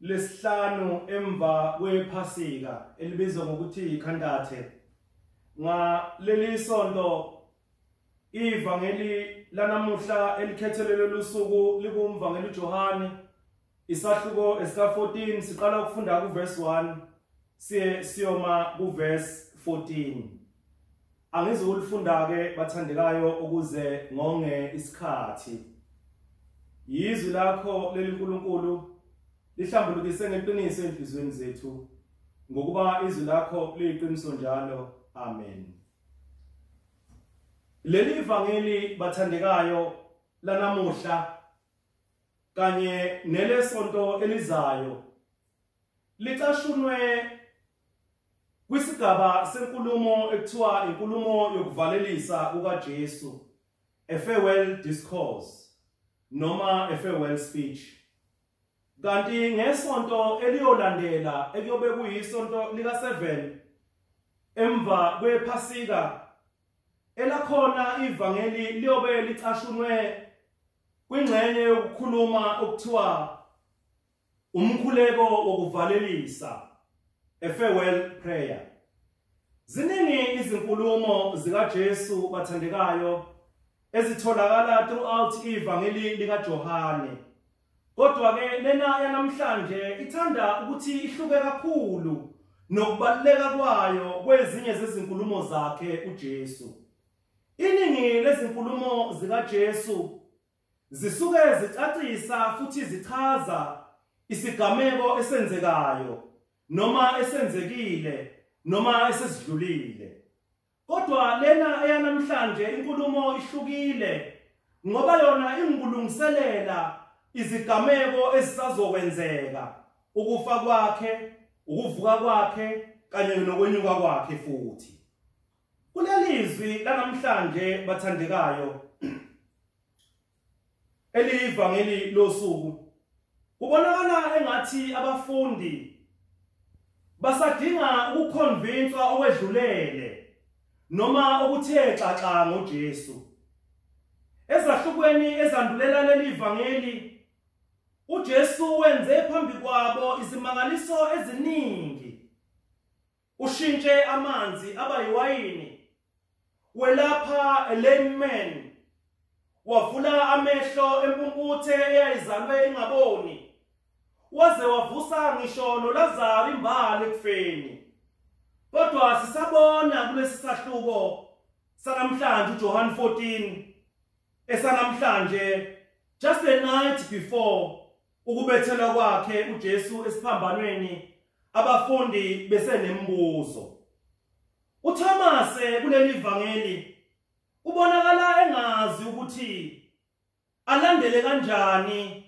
lesihlanu emva kwephasika elibizwa ngokuthi ikhantathe ngaleli sonto ivangeli lanamuhla elikhethelelwe lusuku likumvangeli uJohane isahluko esika14 siqala ukufunda kuverse 1 siye siyoma kuverse 14 Angizukulifunda-ke bathandekayo ukuze ngonge isikhathi. Yizwi lakho leli Nkulunkulu lihlambulukise ngeqiniso enhlizweni zethu ngokuba izwi lakho liyiqiniso njalo. Amen. Leli ivangeli bathandekayo lanamuhla kanye nelesonto elizayo licashunwe Kwisigaba senkulumo ekuthiwa inkulumo yokuvalelisa kukaJesu, a farewell discourse noma a farewell speech. Kanti ngesonto eliyolandela ekuyobe kuyisonto lika 7 emva kwephasika elakhona ivangeli liyobe licashunwe kwingxenye yokukhuluma okuthiwa Umkhuleko wokuvalelisa, a farewell prayer. Ziningi izinkulumo zikaJesu bathandekayo ezitholakala throughout ivangeli likaJohane. Kodwa ke lena yanamhlanje ithanda ukuthi ihluke kakhulu nokubaluleka kwayo kwezinye zezinkulumo zakhe uJesu. Iningi lezinkulumo zikaJesu Zisuke zicacisa futhi zichaza isigameko esenzekayo noma esenzekile noma esesidlulile. Kodwa lena eyanamhlanje inkulumo ihlukile ngoba yona ingulungiselela izigameko ezisazokwenzeka ukufa kwakhe, ukuvuka kwakhe kanye nokwenyuka kwakhe futhi. Kulelizwi lanamhlanje bathandekayo eliyivangeli losuku kubonakala engathi abafundi basadinga ukukhonvinswa okwedlulele noma okuthe xaxa ngoJesu ezahlukweni ezandulela leli vangeli uJesu wenze phambi kwabo izimangaliso eziningi Ushintshe amanzi aba yiwayini. Welapha a lame man. Wavula amehlo empumputhe eyayizalwe ingaboni. Waze wavusa ngisho noLazaro imbali ekufeni. Kodwa sisabona kulesi sahluko sanamhlanje uJohn 14 esanamhlanje just a night before Ukubethelwa kwakhe uJesu esiphambanweni abafundi besenembuzo. UThomas kuleli vangeli ubonakala engazi ukuthi alandele kanjani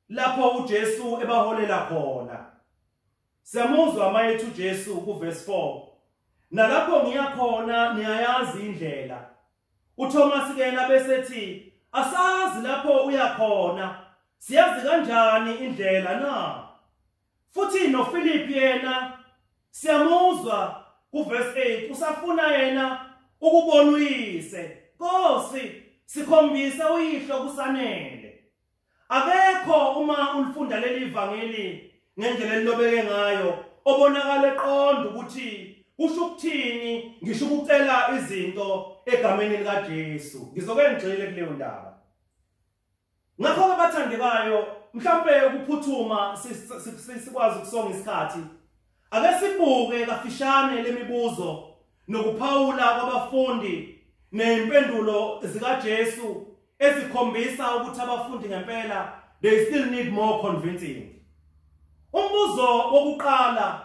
lapho uJesu ebaholela khona. Siyamuzwa mayethu uJesu kuverse 4. Nalapho ngiya khona niyayazi indlela. UThomas ke yena bese ethi asazi lapho uya khona siyazi kanjani indlela na futhi noPhilip yena siyamuzwa kuverse 8 usafuna yena ukubona uyise Nkosi sikhombisa uyihlo kusanele Akekho uma ulifunda leli ivangeli ngendlela elilobeke ngayo obonakala eqonda ukuthi kusho ukuthini ngisho ukucela izinto egameni likaJesu. Ngizoke ngigxile kuleyo ndaba. Ngakho abathandekayo mhlawumbe ukuphuthuma sikwazi ukusonga isikhathi Ake sibuke kafishane lemibuzo nokuphawula kwabafundi nezimpendulo zikaJesu ezikhombisa ukuthi abafundi ngempela they still need more convincing. Umbuzo wokuqala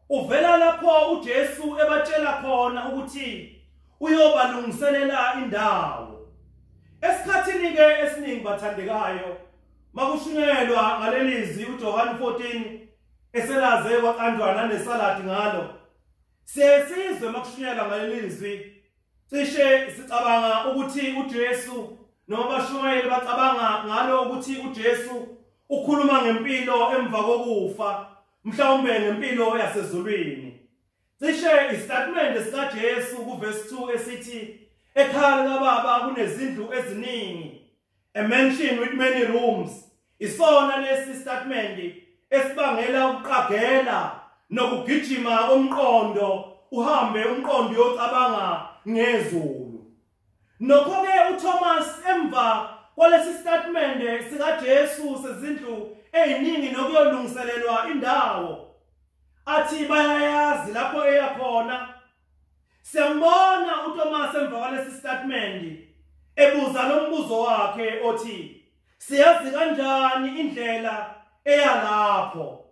uvela lapho uJesu ebatshela khona ukuthi uyobalungiselela indawo esikhathini ke esiningi bathandekayo makushunyelwa ngalelizwi uJohane 14 eselaze kwaqanjwa nanesaladi ngalo sesizwe makushunyelwa ngalelizwi cishe sicabanga ukuthi uJesu noma abashumayeli bacabanga ngalo ukuthi uJesu ukhuluma ngempilo emva kokufa mhlawumbe ngempilo yasezulwini cishe istatimende sikaJesu kuverse 2 esithi ekhaya likababa kunezindlu eziningi A mansion with many rooms isona lesi statement esibangela ukuqagela nokugijima komqondo uhambe umqondo uyocabanga ngezulu nokho-ke uthomas emva kwalesi sitatimende sikajesu sezindlu eziningi nokuyolungiselelwa indawo athi bayayazi lapho eya khona Siyambona uThomas emva kwalesi statement ebuza lo mbuzo wakhe othi siyazi kanjani indlela eya lapho.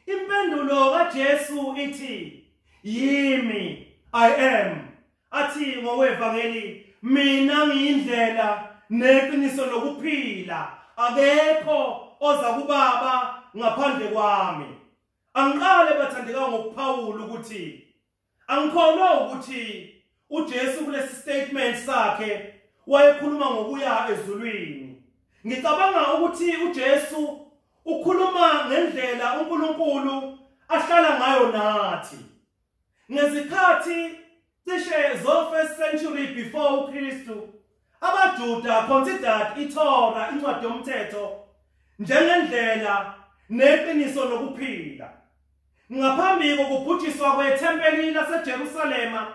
Impendulo kaJesu ithi yimi I am athi ngowevangeli mina ngiyindlela neqiniso lokuphila akekho oza kubaba ngaphandle kwami angiqale bathandeka ngokuphawula ukuthi Angikholwa ukuthi uJesu kulesi statement sakhe wayekhuluma ngokuya ezulwini. Ngicabanga ukuthi uJesu ukhuluma ngendlela uNkulunkulu ahlala ngayo nathi. Ngezikhathi cishe zo first century before uKristu AmaJuda considered iTorah, incwadi yomthetho, njengendlela neqiniso lokuphila. Ngaphambi kokubhujiswa kwethempeli laseJerusalema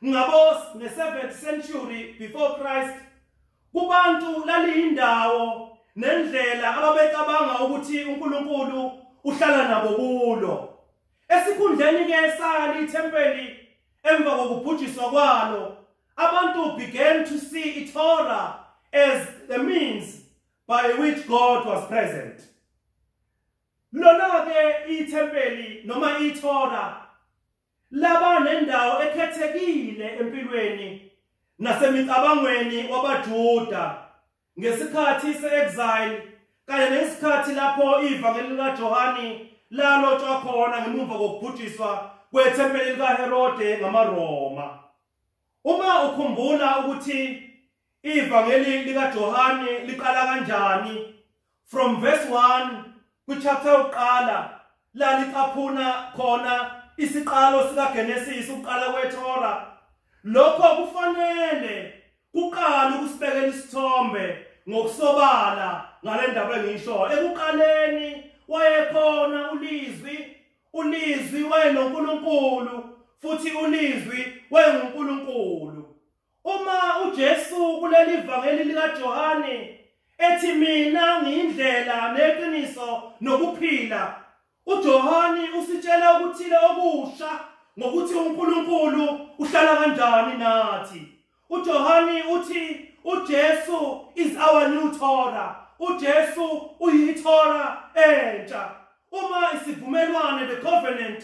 ngabo nge-7th century before Christ, kubantu laliyindawo nendlela ababecabanga ukuthi uNkulunkulu uhlala nabo kulo esikhundleni ke sali ithempeli Emva kokubhujiswa kwalo, abantu began to see iTorah as the means by which God was present. Lona ke ithempeli noma iTorah laba nendawo ekhethekile empilweni nasemicabangweni wabaJuda Ngesikhathi se-exile kanye nesikhathi lapho ivangeli likaJohane lalotshwa khona ngemuva kokubhujiswa kwethempeli likaHerode ngamaRoma. Uma ukhumbula ukuthi ivangeli likaJohane liqala kanjani, from verse 1 kuchapter yokuqala la licaphuna khona isiqalo sikaGenesis ukuqala kweThora lokho kufanele kuqala ukusibekela isithombe ngokusobala ngalendaba engisho ekuqaleni wayekhona ulizwi ulizwi wayenoNkulunkulu futhi ulizwi wayenguNkulunkulu Uma uJesu kuleli vangeli likaJohane ethi mina ngiyindlela neqiniso nokuphila, uJohane usitshela ukuthile okusha ngokuthi uNkulunkulu uhlala kanjani nathi. UJohane uthi uJesu is our new Torah. UJesu uyiTorah entsha. Uma isivumelwane the covenant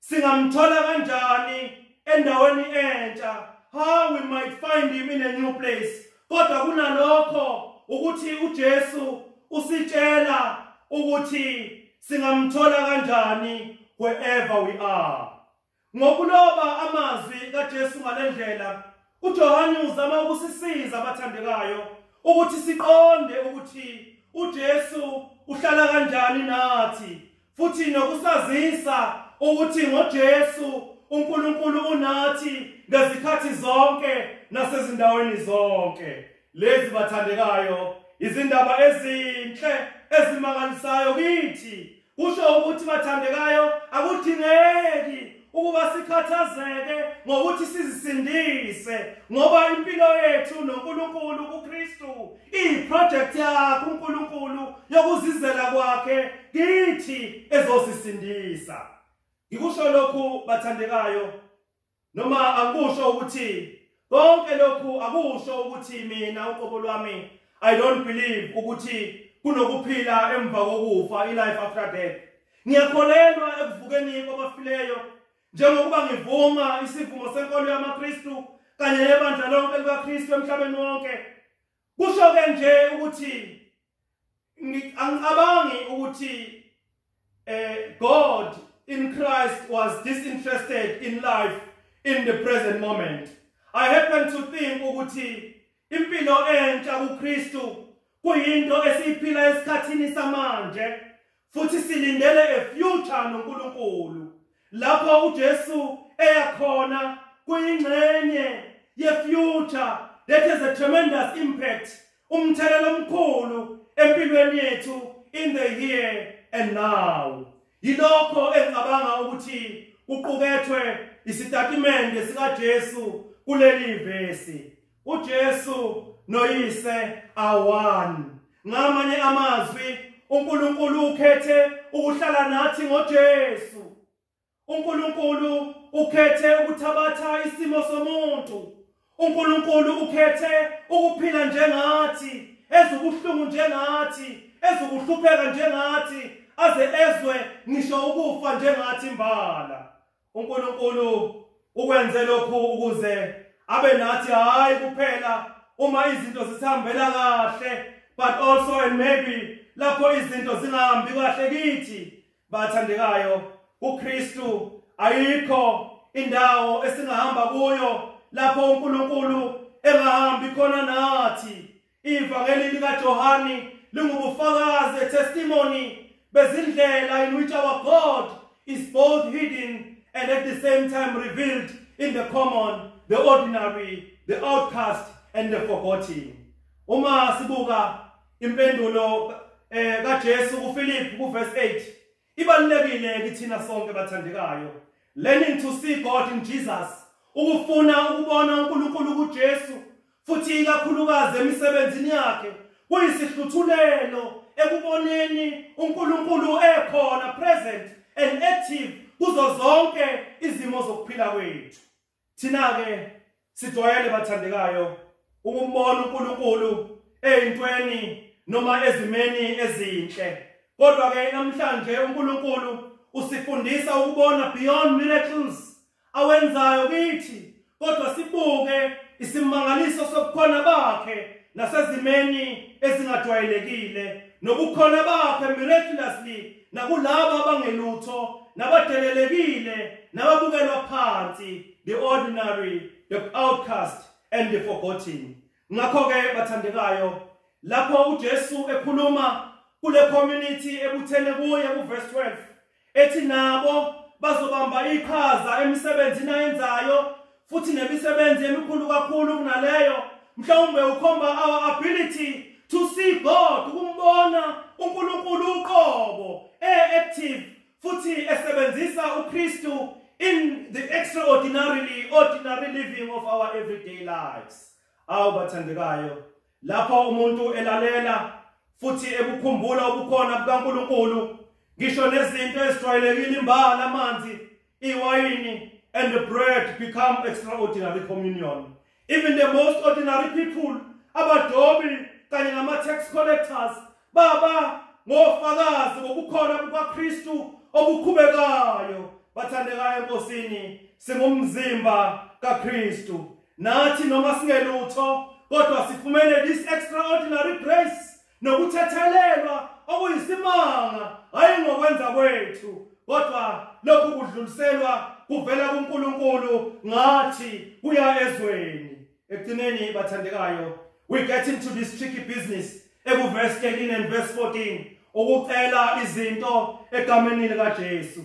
Singamthola kanjani endaweni entsha? How we might find him in a new place. Kodwa kunalokho ukuthi uJesu usitshela ukuthi singamthola kanjani wherever we are. Ngokuloba amazwi kaJesu ngalendlela, uJohane uzama ukusisiza abathandekayo ukuthi siqonde ukuthi uJesu uhlala kanjani nathi Futhi nokusazisa ukuthi ngoJesu uNkulunkulu unathi ngezikhathi zonke nasezindaweni zonke. Lezi bathandekayo izindaba ezinhle ezimangalisayo kithi. Kusho ukuthi bathandekayo akudingeki ukuba sikhathazeke ngokuthi sizisindise ngoba impilo yethu noNkulunkulu kuKristu iproject yakhe uNkulunkulu yokuzizela kwakhe kithi ezosisindisa ngikusho lokhu bathandekayo noma angikusho ukuthi Konke lokhu akusho ukuthi mina uqobo lwami I don't believe ukuthi kunokuphila emva kokufa i-life after death. Ngiyakholelwa ekuvukeni kwabafileyo njengokuba ngivuma isivumo senkolo yamaKristu kanye nebandla lonke likaKristu emhlabeni wonke. Kusho ke nje ukuthi angicabangi ukuthi eh God in Christ was disinterested in life in the present moment. I happen to think ukuthi impilo entsha kuKristu kuyinto esiyiphila esikhathini samanje. Futhi silindele a future noNkulunkulu lapho uJesu eya khona kuyingxenye ye future that has a tremendous impact umthelela omkhulu empilweni yethu in the here and now yilokho engicabanga ukuthi kuqukethwe isitatimende sikaJesu kuleli vesi UJesu noyise awani. Ngamanye amazwi uNkulunkulu ukhethe ukuhlala nathi ngoJesu. uNkulunkulu ukhethe ukuthabatha isimo somuntu. uNkulunkulu ukhethe ukuphila njengathi, ezubuhlungu njengathi, ezukuhlupheka njengathi, aze ezwe ngisho ukufa njengathi imbala. uNkulunkulu ukwenze lokhu ukuze abe nathi hayi kuphela uma izinto zisihambela kahle but also and maybe lapho izinto zingahambi kahle kithi bathandekayo uKristu ayikho indawo esingahamba kuyo lapho uNkulunkulu engahambi khona nathi Ivangeli likaJohane lingubufakazi, a testimony, bezindlela in which our God is both hidden and at the same time revealed in the common, the ordinary, the outcast and the forgotten. Uma sibuka impendulo eh kaJesu kuFilip kuverse 8 Ibalulekile kithina sonke bathandekayo. Learning to see God in Jesus. Ukufuna ukubona uNkulunkulu kuJesu futhi ikakhulukazi emisebenzini yakhe kuyisihluthulelo ekuboneni uNkulunkulu ekhona present and active kuzo zonke izimo zokuphila kwethu. Thina-ke sijwayele bathandekayo ukumbona uNkulunkulu eyintweni noma ezimeni ezinhle. Kodwa ke namhlanje uNkulunkulu usifundisa ukubona beyond miracles awenzayo kithi kodwa sibuke isimangaliso sobukhona bakhe nasezimeni ezingajwayelekile nobukhona bakhe miraculously nakulabo abangelutho nabadelelekile nababukelwa phansi the ordinary the outcast and the forgotten ngakho ke bathandekayo lapho uJesu ekhuluma kule community ebuthene kuye kuverse 12 ethi nabo bazobamba iqhaza emisebenzini ayenzayo futhi nemisebenzi emikhulu kakhulu kunaleyo mhlawumbe ukhomba our ability to see God ukumbona uNkulunkulu uqobo eactive futhi esebenzisa uKristu in the extraordinarily ordinary living of our everyday lives awu bathandekayo Lapho umuntu elalela futhi ekukhumbula ubukhona bukaNkulunkulu, ngisho nezinto ezijwayelekile imbala amanzi, iwayini and the bread become extraordinary communion. Even the most ordinary people, abadobi kanye nama-tax collectors Baba, ngofakazi bokukhona kukaKristu obukhubekayo, bathandekayo eNkosini, singumzimba kaKristu. Nathi noma singelutho, kodwa sifumene this extraordinary grace nokuthethelelwa okuyisimanga hayi ngokwenza kwethu kodwa lokhu kudluliselwa kuvela kuNkulunkulu ngathi kuya ezweni ekugcineni bathandekayo we get into this tricky business ekuverse 13 and verse 14 ukucela izinto egameni likaJesu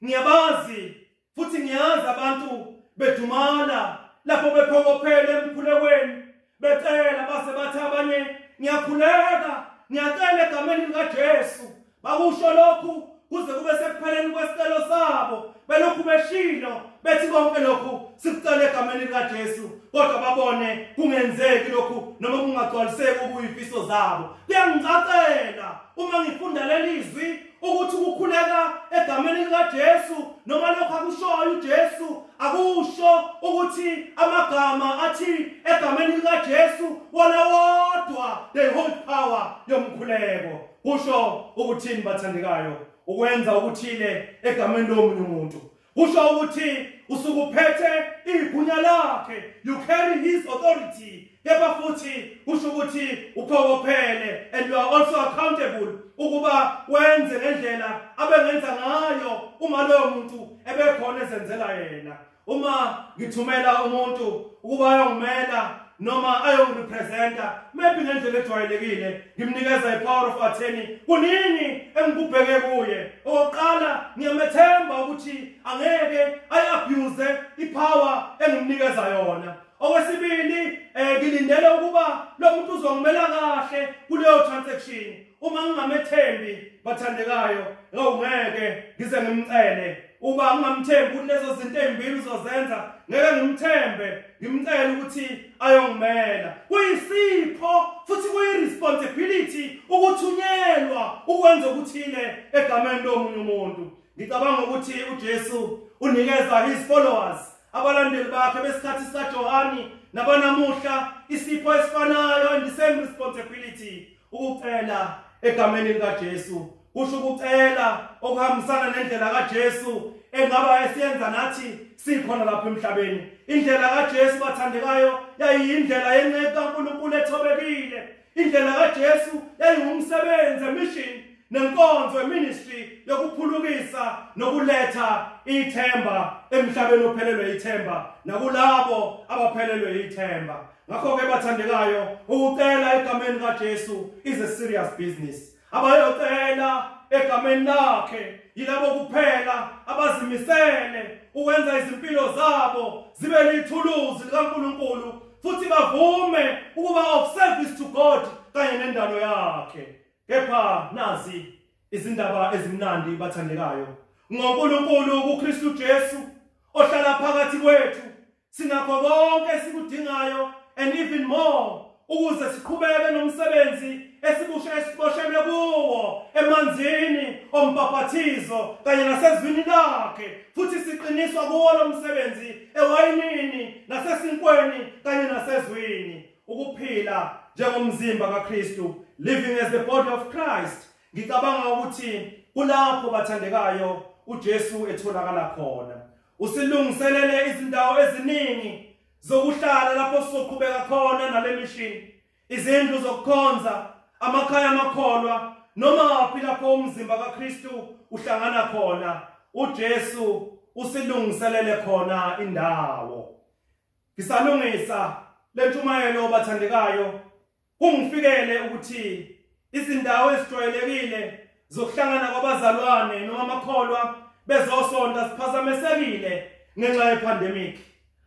ngiyabazi futhi ngiyazi abantu bedumala lapho bephokophele emkhulekweni becela base bathi abanye ngiyakhuleka ngiyacela egameni likaJesu Bakusho lokhu kuze kube sekupheleni kwesicelo sabo belokhu beshilo bethi konke lokhu sikucele egameni likaJesu kodwa babone kungenzeki lokhu noma kungagcwaliseki okuyifiso zabo kuyangicacela uma ngifunda leli zwi ukuthi ukukhuleka egameni likaJesu noma lokho akushoyo uJesu akusho ukuthi amagama athi egameni likaJesu wona wodwa they hold power yomkhuleko kusho ukuthini bathandekayo ukwenza ukuthile egameni lomunye umuntu kusho ukuthi usukuphethe igunya lakhe you carry his authority kepha futhi kusho ukuthi uphokophele and you are also accountable ukuba wenze ngendlela abengenza ngayo uma loyo muntu ebekhona ezenzela yena uma ngithumela umuntu ukuba ayongimela noma ayongirepresenta maybe ngendlela ejwayelekile ngimnikeza i-power of attorney kunini engikubheke kuye okokuqala ngiyamethemba ukuthi angeke ayi-abuse i-power engimnikeza yona okwesibili um ngilindele ukuba lo muntu uzongimela kahle kuleyo transaction uma ngingamethembi bathandekayo ngawungeke ngize ngimcele Uba ungamthembi ukuthi lezo zinto ezimbili uzozenza ngeke ngimthembe ngimcela ukuthi ayongimela. Kuyisipho futhi kuyiresponsibility ukuthunyelwa ukwenza ukuthile egameni lomunye umuntu. Ngicabanga ukuthi uJesu unikeza his followers abalandeli bakhe besikhathi sikaJohane nabanamuhla isipho esifanayo and the same responsibility ukucela egameni likaJesu kusho ukucela okuhambisana nendlela kaJesu engaba esiyenza nathi sikhona lapha emhlabeni indlela kaJesu bathandekayo yayiyindlela yenceku kaNkulunkulu ethobekile indlela kaJesu yayiwumsebenzi emission nenkonzo eministry yokuphulukisa nokuletha ithemba emhlabeni ophelelwe ithemba nakulabo abaphelelwe ithemba ngakho ke bathandekayo ukucela egameni kaJesu is a serious business abayocela egameni lakhe yilabo kuphela abazimisele ukwenza izimpilo zabo zibe lithuluzi likaNkulunkulu futhi bavume ukuba of service to God kanye nendalo yakhe kepha nazi izindaba ezimnandi bathandekayo ngoNkulunkulu kuKristu Jesu ohlala phakathi kwethu Sinakho konke esikudingayo and even more ukuze siqhubeke nomsebenzi esibushe esiboshelwe kuwo emanzini ombhaphathizo kanye nasezwini lakhe futhi siqiniswa kuwo lo msebenzi ewayinini nasesinkweni kanye nasezwini ukuphila njengomzimba kaKristu living as the body of Christ ngicabanga ukuthi kulapho bathandekayo uJesu etholakala khona Usilungiselele izindawo eziningi zokuhlala lapho sizoqhubeka khona nale mishini, izindlu zokukhonza, amakhaya amakholwa, noma waphi lapho umzimba kaKristu uhlangana khona. UJesu usilungiselele khona indawo. Ngisalungisa lentshumayelo bathandekayo Kungifikele ukuthi izindawo ezijwayelekile zokuhlangana kwabazalwane noma amakholwa bezosonta ziphazamesekile ngenxa yepandemic.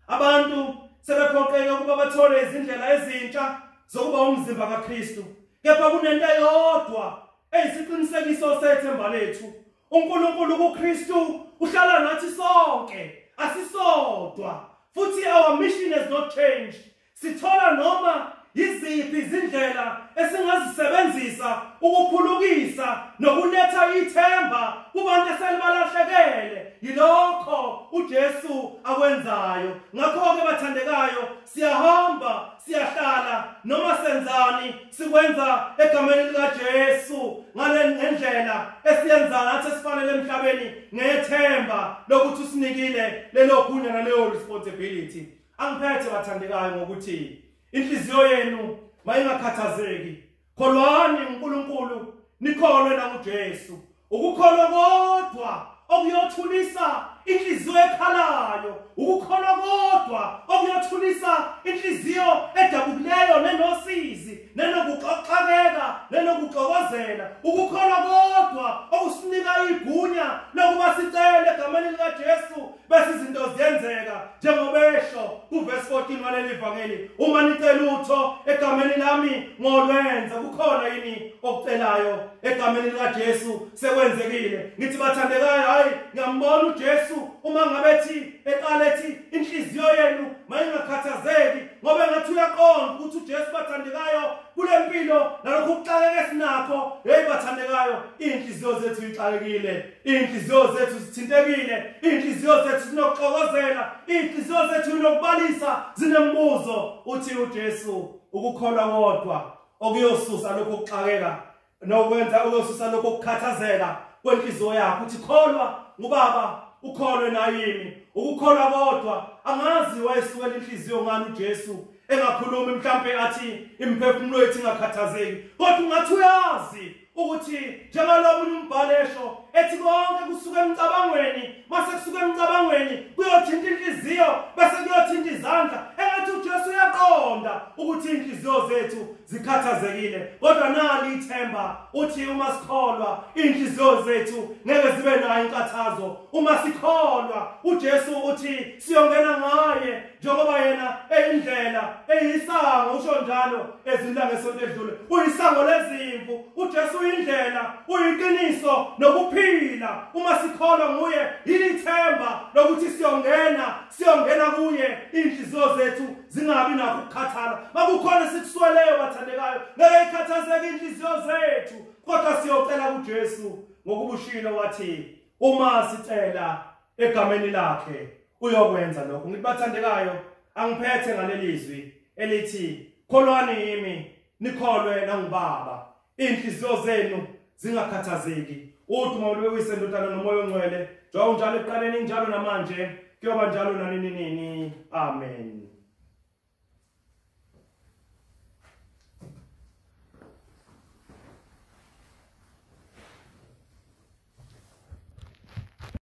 Abantu sebephoqeke ukuba bathole izindlela ezintsha zokuba umzimba kaKristu. Kepha kunento eyodwa eyisiqinisekiso sethemba lethu. UNkulunkulu kuKristu uhlala nathi sonke, asisodwa. Futhi our mission has not changed. Sithola noma yiziphi izindlela esingazisebenzisa ukuphulukisa nokuletha ithemba kubantu eselibalahlekele yilokho uJesu akwenzayo ngakho-ke bathandekayo siyahamba siyahlala noma senzani sikwenza egameni likaJesu ngale ngendlela esiyenza ngathi esifanele emhlabeni ngethemba lokuthi usinikile lelo gunya naleyo responsibility Angiphethe bathandekayo ngokuthi inhliziyo yenu mayingakhathazeki. Kholwani uNkulunkulu, nikholwe nanguJesu. Ukukholwa kodwa okuyothulisa inhliziyo ekhalayo, ukukholwa kodwa okuyothulisa inhliziyo edabukileyo nenosizi, nenokuxoxakeka, nenokuxokozela. Ukukholwa kodwa okusinika igunya lokuba sicele egameni likaJesu bese izinto ziyenzeka njengoba esho kuvesi 14 waleli vangeli uma nicela utho egameni lami ngolwenza kukhona yini okucelayo egameni likaJesu sekwenzekile ngithi bathandekayo hayi ngiyambona uJesu uma ngabe thi eqale thi inhliziyo yenu mayingakhathazeki ngoba ngathi uyaqonda ukuthi uJesu bathandekayo kule mpilo nalokhu kuxakeke sinakho hey bathandekayo inhliziyo zethu ixakekile Inhliziyo zethu zithintekile, inhliziyo zethu zinokuxokozela, inhliziyo zethu inokubalisa zinembuzo uthi uJesu ukukholwa kodwa okuyosusa lokho kuxakeka nokwenza uyosusa lokho kukhathazeka kwenhliziyo yakho uthi kholwa ngubaba ukholwe nayimi ukukholwa kodwa angazi wayesuwela inhliziyo ngani uJesu engakhulumi mhlambe athi imphefumulo yethu ingakhathazeki kodwa ungathi uyazi ukuthi njengalokho omunye umbhali esho ethi konke kusuka emcabangweni mase kusuka emcabangweni kuyothinta inhliziyo bese kuyothinta izandla engathi uJesu uyaqonda ukuthi inhliziyo zethu zikhathazekile kodwa nali ithemba uthi uma sikholwa inhliziyo zethu ngeke zibe nayo inkathazo uma sikholwa uJesu uthi siyongena ngaye njengoba yena eyindlela eyisango usho njalo ezimla ngesonto edlule uyisango lezimvu uJesu uyindlela uyiqiniso nokuphila uma sikholwa nguye yilithemba lokuthi siyongena siyongena kuye inhliziyo zethu zingabi nakho ukukhathala makukhona sikusweleyo bathandekayo ngeke ikhathazeke inhliziyo zethu kodwa siyocela kuJesu ngokubushilo wathi uma sicela egameni lakhe uyokwenza lokho ngithi bathandekayo angiphethe ngalelizwi elithi kholwani yimi nikholwe nangubaba inhliziyo zenu zingakhathazeki uthi uma ulibekuyise ndodana nomoya ongcwele njengoba unjalo ekuqaleni injalo namanje kuyoba njalo nanini nini amen